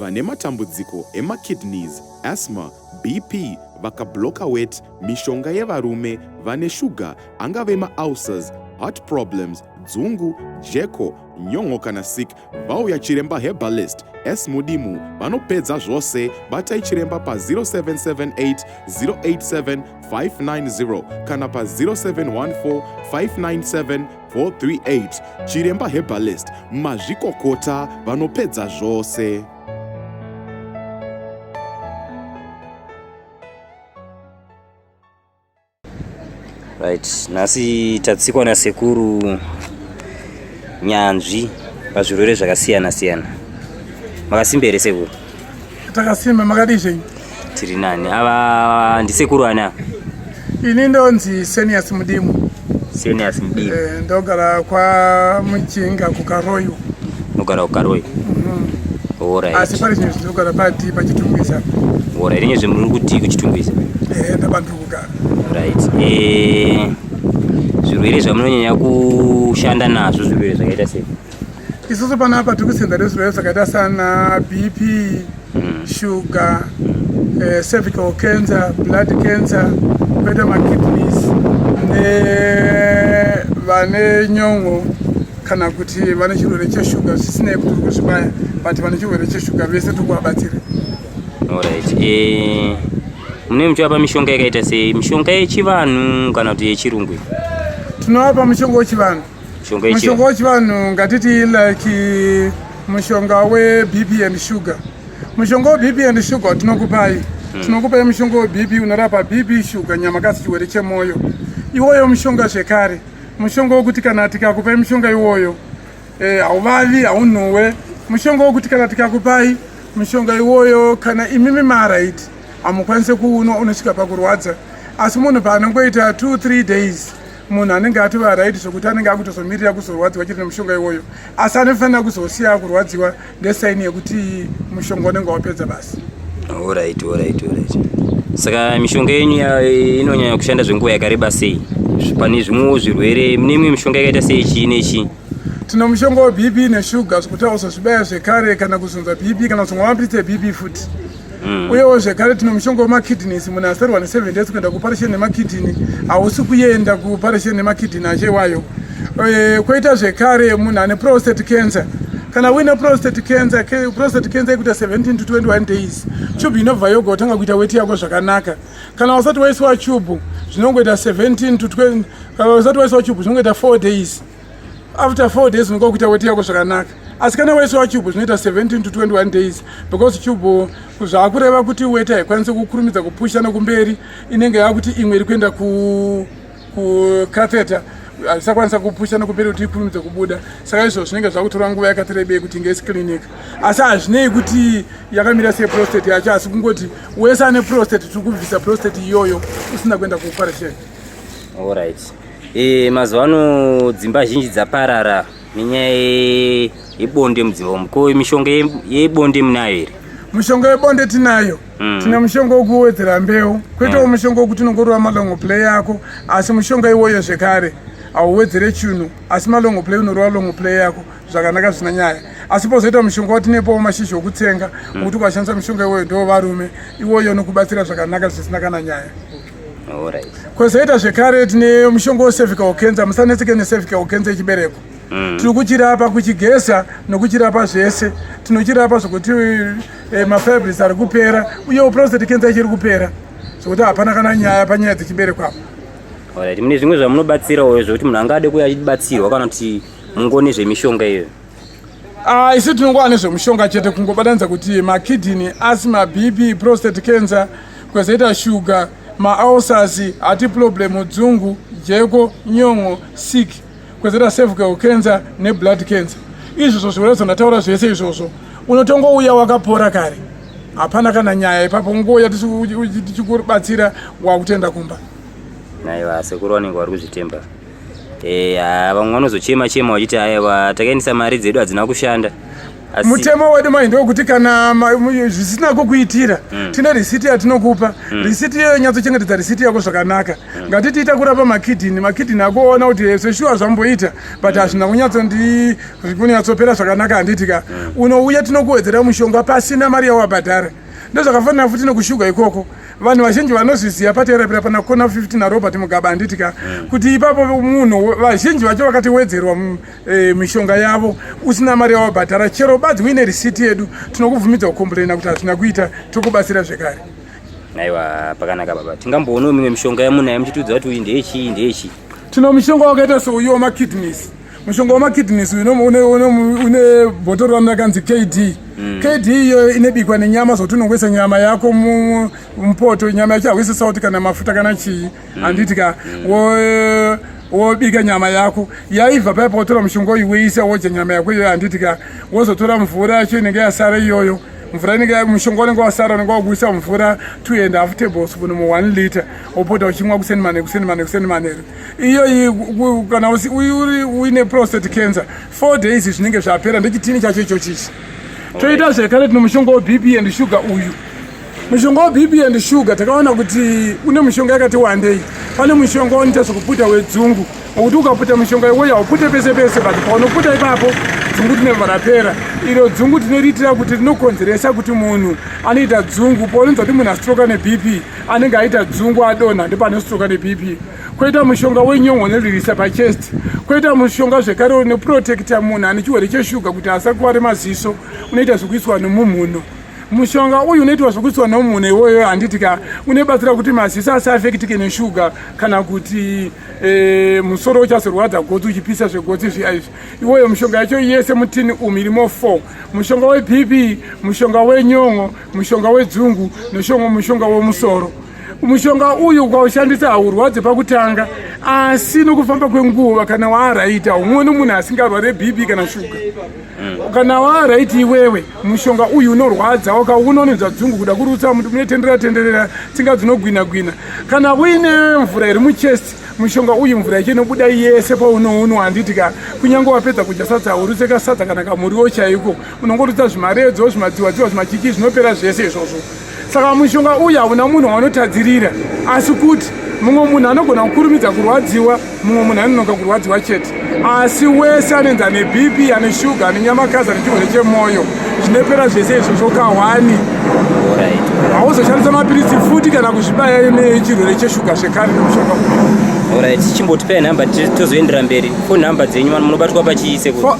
vane matambudziko emakidneys asthma bp vakabloka wet mishonga yevarume vane shuga angave maulcers heart problems dzungu jeko nyon'o kana sik vauya chiremba herbalist s mudimu vanopedza zvose batai chiremba pa 0778 087 590 kana pa 0714 597 438 Chiremba Herbalist mazvikokota vanopedza zvose. Right, nhasi tatsikwa nasekuru nyanzvi pazvirwere zvakasiyana siyana. Makasimba here sekuru? Takasimba makadii zvenyu? Tiri nani. Ava ndisekuru ani ava? Ini ndonzi Senius Mudimu. Senius Mudimu. Eh, ndogara kwa Muchinga kuKaroyo. Ndogara kuKaroyo. Mhm. Mm Alright. Asi pari chinhu chinogara pati pachitumbisa. Alright. Rinye zvimuri kuti kuchitumbisa? Eh, ndabantu kugara. Right. Eh zvirwere zvamunonyanya kushanda nazvo zvirwere zvakaita sei? Isusu pano apa tiri kusenza nezvirwere zvakaita sana BP, mm. sugar, mm. eh, cervical cancer, blood cancer, koita makidneys nevane nyongo kana kuti vane chirwere cheshuga zvisinei kuti tiri kuzvibaya but vane chirwere cheshuga vese tiri kuvabatsira. Alright. Eh, mune muchivapa mishonga yakaita sei? Mishonga yechivanhu kana kuti yechirungu? Tinovapa mushonga wechivanhu. mushonga wechivanhu ngatiti like mushonga webp and sugar mushonga webp and sugar tinokupai hmm. tinokupai mushonga webp unorapa bp sugar nyama kasi chiwere chemoyo iwoyo mushonga zvekare mushonga wokuti kana tikakupai mushonga iwoyo eh, hauvavi haunhuwe mushonga wokuti kana tikakupai mushonga iwoyo kana imimi marit hamukwanise kuunwa unosvika pakurwadza asi munhu paanongoita 23 days munhu anenge atova right zvekuti anenge akutozomirira kuzorwadziwa chiri nemushonga iwoyo asi anofanira kuzosiya kurwadziwa ndesaini yekuti mushonga unenge wapedza basi orit orit orit saka mishonga yenyu inonyanya kushanda zvenguva yakareba sei pane zvimwewo zvirwere mune imwe mishonga yakaita sei chii nechii tino mushonga webp neshuga zvekuti auzozvibaya zvekare kana kuzunza bp kana kuzonwa mapritse bp futi Mm. uyewo zvekare tine mushonga wemakidneys munhu asarwa neseven days kuenda kuparisheni nemakidney hausi kuenda kuparisheni nemakidney acho iwayo eh, kwoita zvekare munhu ane prostate cancer kana uine prostate cancer prostate cancer ikuita 17 to 21 days tube inobva yoga kutanga kuita weti yako zvakanaka kana usati waisiwa tube zvinongoita 17 to 20 kana usati waisiwa tube zvinongoita 4 days after four days unenge wakuita weti yako zvakanaka asi kana wese wacube zvinoita 17 to 21 days because cube zvaakureva kuti weti haikwanisi kukurumidza kupusha nokumberi inenge yakuti imwe iri kuenda kucatheta haisakwanisa kupusha nokumberi kuti ikurumidza kubuda saka izvo zvinenge zvakutora nguva yakati rebei kuti inge isiclinic asi hazvinei kuti yakamira seprostate yacho asi kungoti wese ane prostate tiri kubvisa prostate iyoyo usina kuenda kuoperation allright E, mazuva ano dzimba zhinji dzaparara nenyaya yebonde mudzimba umu ko mishonga yebonde munayo here mushonga webonde tinayo mm. tine mushonga wokuwedzera mbeu kwete mm. mushonga wokuti unongorova malongo play yako asi mushonga iwoyo zvekare hauwedzere chinhu asi malongo play unorova longo play yako zvakanaka zvisina nyaya asi pozoita mushonga watinepowo mashizha okutsenga okuti mm. ukashandisa mushonga iwoyo ndo varume iwoyo unokubatsira zvakanaka zvisina kana nyaya Kozoita zvekare tine mushonga wecervical cancer, musanetseke necervical cancer yechibereko. Mm. Tiri kuchirapa kuchigeza nokuchirapa zvese. Tinochirapa zvokuti eh, mafibris ari kupera uyewo prostate cancer ichiri kupera zvokuti hapana kana nyaya panyaya dzechibereko apa. Alright, mune zvimwe zvamunobatsirawo zvokuti munhu angade kuuya achibatsirwa kana kuti mungoni zvemishonga iyoyo. Ah, isu tinongova nezvemushonga chete kungobatanidza kuti makidney asi mabp prostate cancer kwezoita shuga maalsas hati problem dzungu jeko nyongo sick kwezoita cervical cancer neblood cancer izvozvo zvirwere zvandataura zvese izvozvo unotongouya wakapora kare hapana kana nyaya ipapo ngouya tichikubatsira wakutenda kumba naiva sekuru vanenge vari kuzvitemba eya vamwe vanozochema chema vachiti aiwa takaendesa mari dzedu hadzina kushanda Asi- mutemo wedu mai ndokuti kana ma- mu- zvisina kukuitira Mm. tine risiti yatinokupa Mm. risiti iyoyo nyatsochengetedza risiti yako zvakanaka ngatiti ita kurapa makidhini makidhini akuona kuti hezvo shuwa zvamboita but hazvina kunyatsondi kunyatsopera zvakanaka handiti ka unouya tinokuwedzera mushonga pasina mari yawabhadhara ndozvakafanira futi nekushuga ikoko vanhu vazhinji vanozviziva paterapira pana kona 15 narobert mugaba handiti ka mm. kuti ipapo munhu vazhinji vacho vakatiwedzerwa mm, eh, mishonga yavo usina mari yawabhadhara chero badzi uine risiti yedu tinokubvumidza kukomplaina kuti hazvina kuita tokubatsira zvekare aiwa pakanaka baba tingamboonawo mimwe mishonga yamunayo muchitiudza kuti uyu ndeyechii ndeyechii tino mishonga wakaita souyo makidneys mushonga wemakidneys une bhotoro rano rakanzi kd mm. kd iyoyo inobikwa nenyama zvokuti unongoisa nyama yako mupoto nyama yacho hauisi sauti kana mafuta kana chii mm. handiti ka mm. wobika nyama yako yaibva paya pawotora mushonga uyu woisa wodya nyama yako iyoyo handiti ka wozotora mvura yacho inenge yasara iyoyo mvura inenge mushonga unenge wasara unenge wakuisa mvura two and half tablespoon mu one liter wopota uchimwa kuseni manheru kuseni manheru kuseni manheru iyoyi kana uri uine prostate cancer four days zvinenge zvapera ndechitini chacho ichochichi toita zvekare tino mushonga webp and sugar uyu mushonga webp and sugar takaona kuti une mushonga yakati wandei pane mushonga unoita zvekuputa wedzungu nokuti ukaputa mushonga iwoyo haupute pese pese but paunoputa ipapo dzungu tinobva rapera iro dzungu tinoriitira kuti rinokonzeresa kuti munhu anoita dzungu paunonzwa kuti munhu astroka nebp anenge aita dzungu adonha ndepane stroka nebp koita mushonga wenyongo unolirisa pachest koita mushonga zvekare unoprotecta munhu ane chiwere cheshuga kuti asakware maziso unoita zvekuiswa nomumhuno mushonga uyu unoitwa zvekuiswa nomumhuno iwoyo handiti ka unebatsira kuti maziso asaafekitike neshuga kana kuti e, musoro uchazorwadza gotsi uchipisa zvegotsi zviya izvi iwoyo mushonga yacho yese mutini umu irimo four mushonga webp mushonga wenyongo mushonga wedzungu noshongo mushonga womusoro mushonga uyu ukaushandisa haurwadze pakutanga asi nokufamba kwenguva kana waaraita umwe nomunhu asingarware bp kana shuga mm. kana waaraiti iwewe mushonga uyu unorwadza wakaunononzwa dzungu kuda kurutsa muti munotenderera tenderera tsinga dzinogwina gwina kana uine mvura iri muchest mushonga uyu mvura yacho inobuda yese paunounwa handiti ka kunyange wapedza kudya sadza haurutse kasadza kana kamuriwo chaiko unongorutsa zvimaredzo zvimadziwadziwa zvimachiki zvinopera zvese izvozvo saka mushonga uyu hauna munhu waanotadzirira asi kuti mumwe munhu anogona kukurumidza kurwadziwa mumwe munhu anonoka kurwadziwa chete asi wese anoenza nebp ane shuga ane nyamakazi ane chirwere chemwoyo zvinopera zvese izvozvo kahwani hauzoshandisa mapiritsi futi kana kuzvibaya nechirwere cheshuga zvekare nemushonga uyu orit chimbotipai nhamba tozoendera mberi fo nhamba dzenyu vano munobatwa pachiise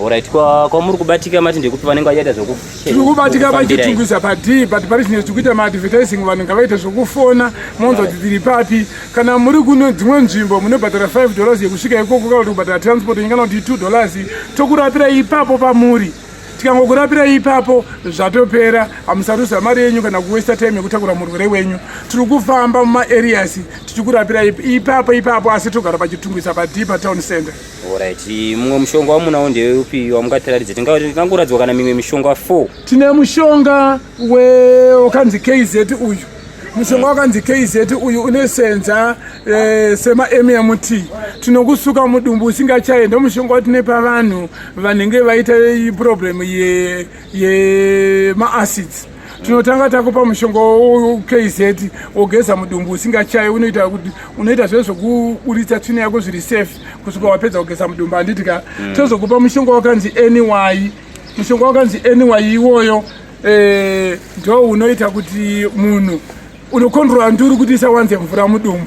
Alright, kwa kwa muri kubatika mati ndekuti vanenge vachiita zvoku tiri kubatika vachitungisa padii but pari zvine zvikuita maadvertising vanhu ngavaite zvokufona monzwa kuti tiri papi kana muri kuno dzimwe nzvimbo munobhadhara 5 dollars yekusvika ikoko kana kuti kubhadhara transport ingana kuti 2 dollars tokurapira ipapo pamuri tikangokurapira ipapo zvatopera hamusaruza mari yenyu kana kuwesta time yekutakura murwere wenyu tiri kufamba mumaareas tichikurapira ipapo ipapo asi togara pachitungisa padii patown center Alright, mumwe mushonga wamunawo ndeupi wamungatiratidze? Tingangoratidza kana mimwe mishonga 4. Tine mushonga wakanzi KZ uyu. Mushonga wakanzi KZ uyu unosenza eh, sema MMT. Tinokusuka mudumbu usingachaye ndomushonga watine pavanhu vanenge vaita problem ye ye ma acids. tinotanga takupa mushonga wokz wogeza mudumbu usingachayi unoita kuti unoita zve zvokuburitsa tsvina yako zviri safe kusvika wapedza kugeza mudumbu handiti ka mm. tozokupa mushonga wakanzi anyway mushonga wakanzi anyway iwoyo eh, ndo unoita kuti munhu Unokondrora nduru kuti isawanze mvura mudumbu.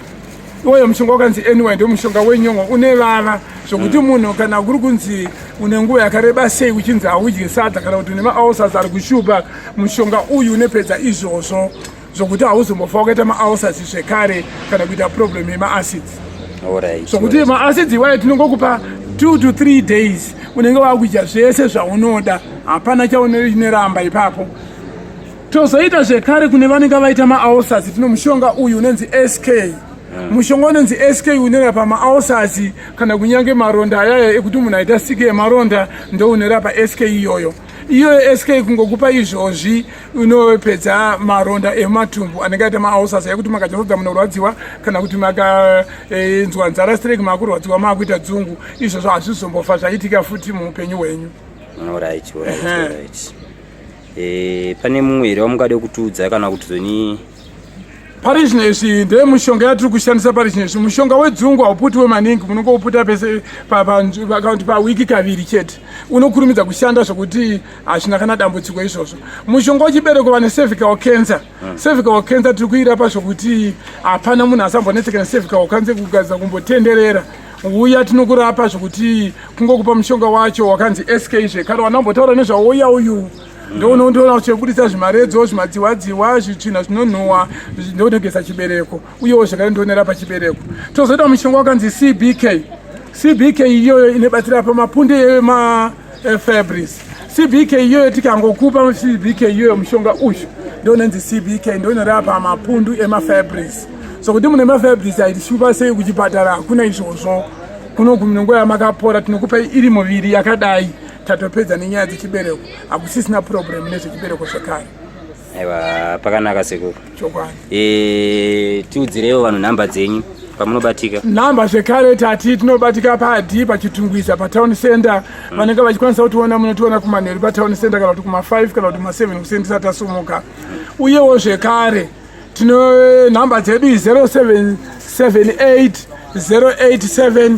Iwoyo mushonga wakanzi NY ndio mushonga wenyongo une vava zvokuti mm. munhu kana kuri kunzi une nguva yakareba sei uchinzi haudye sadza kana kuti une maulcers ari kushupa mushonga uyu unepedza izvozvo zvokuti hauzombofa wakaita maulcers zvekare kana kuita problem yemaacids zvokuti maacids iwayo tinongokupa two to three days unenge wakuita zvese zvaunoda hapana chaunoneramba ipapo Tozoita zvekare kune vanenge vaita maaosasi tino mushonga uyu unonzi SK Eh. mushonga unonzi sk unorapa maaosazi kana kunyange maronda ayaya ekuti munhu aita siki yemaronda ndo unorapa sk iyoyo iyoyo sk kungokupa izvozvi unopedza maronda ematumbu anenge aita maaosazi ekuti makachazodza munorwadziwa kana kuti makainzwa eh, nzara strek makurwadziwa maakuita dzungu izvozvo hazvizombofa zvaitika futi muupenyu hwenyu Eh, pane mumwe here wamungade kutiudza kana kuti zoni pari zvino izvi ndeye mushonga yatiri kushandisa pari zvino izvi mushonga wedzungu hauputiwe maningi munonge uputa pese pakaunti pawiki kaviri chete unokurumidza kushanda zvokuti hazvina kana dambudziko izvozvo mushonga wechibereko vane cervical cancer hmm. cervical cancer tiri kuirapa zvokuti hapana munhu asambonetsekana cervical cancer kugadzira kumbotenderera uya tinokurapa zvekuti kungokupa mushonga wacho wakanzi sk zvekare wanambotaura nezvauya uyu ndounoona uchibudisa zvimaredzo zvimadziwadziwa zvitsvina zvinonhuwa ndonogeza chibereko uyewo zvekare ndionera pachibereko tozoita mushonga wakanzi cbk cbk iyoyo inobatsira pamapunde ema Eh, Fabrice CBK iyoyo tikangokupa CBK iyoyo mushonga uyu ndonenzi CBK ndonorapa mapundu emafabrice so kuti mune mafabrice aitishupa sei kuchipatara hakuna izvozvo kuno kunonguva yamakapora tinokupai iri muviri yakadai tatopedza nenyaya dzechibereko hakusisina purobhuremu nezvechibereko zvekare Aiwa pakanaka sekuru. Chokwadi. Eh tiudzirewo vanhu nhamba dzenyu pamunobatika. Nhamba zvekare tati tinobatika padi pachitungwiza patown center mm. vanenge vachikwanisa kutiona munotiona kumanheru patown center kana kuti kuma 5 kana kuti ma 7 kusendisa tasumuka. Mm. Uyewo zvekare tino nhamba dzedu 0778 087